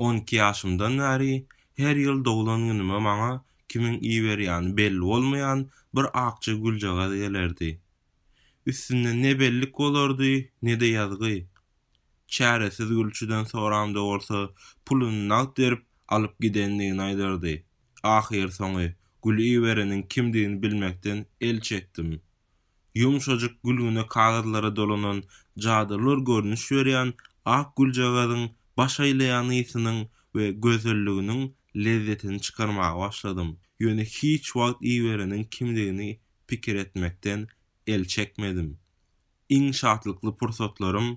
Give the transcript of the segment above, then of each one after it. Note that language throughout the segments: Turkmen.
On iki ýaşymdan bäri her ýyl doglan günüme maňa kimiň iberýäni belli bolmaýan bir akja güljagaz gelerdi. Üstünde ne bellik bolardy, ne-de ýazgy. Çäresiz gülçüden soramda bolsa, puluny nagt berip, alyp gidendigini aýdardy. Ahyrsoňy, gül ibereniň kimdigini bilmekden el çekdim. Ýumşajyk gülgüne kagyzlara dolanan jadylar görnüş berýän ak güljagazyň baş aýlaýan ysynyň we gözelliginiň lezzetini çykarmaga başladym, ýöne hiç wagt ibereniň kimdigini pikir etmekden el çekmedim. Iň şatlykly pursatlarym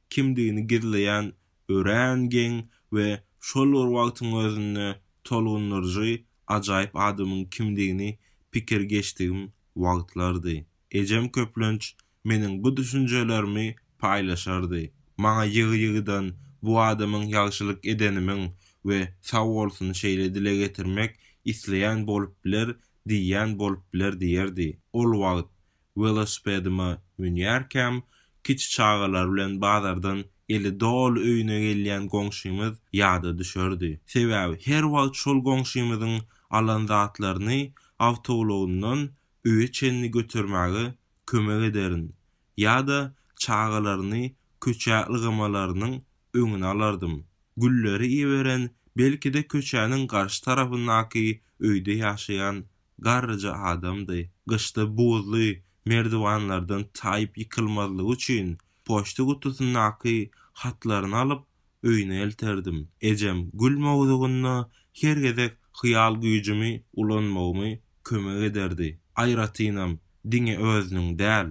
kimdigini gizleýän örän geň we şol bir wagtyň özünde tolgundyryjy ajaýyp adamyň kimdigini pikir geçdigim wagtlardy. Ejem köplenç meniň bu düşünjelerimi paýlaşardy. Maňa ýygy-ýygydan bu adamyň ýagşylyk edenimiň we sag bolsun şeýle dile getirmek isleýän bolup biler diýýän bolup biler diýerdi. Ol wagt welosipedime münýärkäm, kiçi çagalar bilen bazardan eli doly öýüne gelýän goňşymyz ýada düşerdi. Sebäbi her wagt şol goňşymyzyň alan zatlaryny awtoulagyndan öýe çenli götermäge kömek ederin ýa-da çagalaryny köçä ylgamalarynyň öňüni alardym. Gülleri iberen belki-de köçäniň garşy tarapyndaky öýde ýaşaýan garryja adamdy. Gyşda buzly merdiwanlardan taýyp ýykylmazlygy üçin poçta gutusyndaky hatlaryny alyp, öýüne elterdim. Ejem gül mowzugynda her gezek hyýal güýjümi ulanmagymy kömek ederdi. Aýratynam diňe özüniň däl,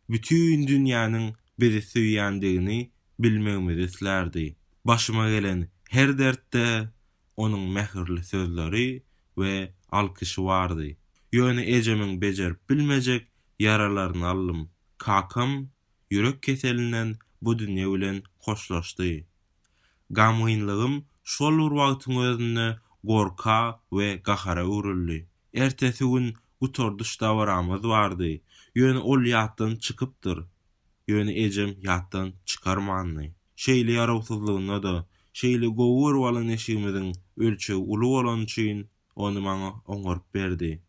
bütin dünýäniň bizi söýýändigini bilmegimizi islärdi. Başyma gelen her dertde onuň mähirli sözleri we alkyşy bardy. Ýöne ejemiň bejerip bilmejek ýaralaryny aldym. Kakam ýürek keselinden bu dünýe bilen hoşlaşdy. Gamgynlygym şol bir wagtyň özünde gorka we gahara öwrüldi. Ertesi gün gutardyş dabaramyz bardy, ýöne ol ýatdan çykypdyr. Ýöne ejem ýatdan çykarmandy. Şeýle ýarawsyzlygynda-da, şeýle gowy görüp alan eşigimiziň ölçegi uly bolany üçin, ony maňa oňaryp berdi.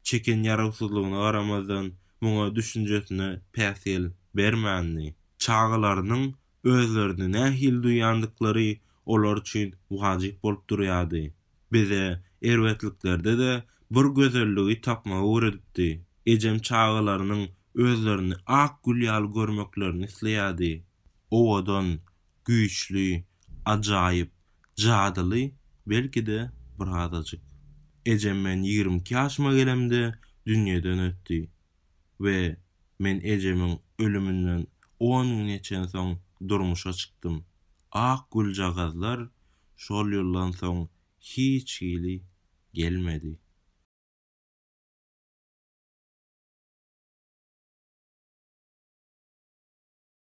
Çeken ýarawsyzlygyna garamazdan, muňa düşünjesine päsgel bermändi. Çagalarynyň özlerini nähili duýýandyklary olar üçin wajyp bolup durýardy. Bize erbetliklerde-de bir gözelligi tapmagy öwredipdi. Ejem çagalarynyň özlerini ak gül ýaly görmeklerini isleýärdi. Owadan, Güýçli, ajaýyp, jadyly, belki-de, birazajyk. Ejem men ýigrimi iki ýaşyma gelemde dünýeden ötdi we men ejemiň ölüminden on gün geçen soň durmuşa çykdym. Ak güljagazlar şol ýyldan soň hiç hili gelmedi.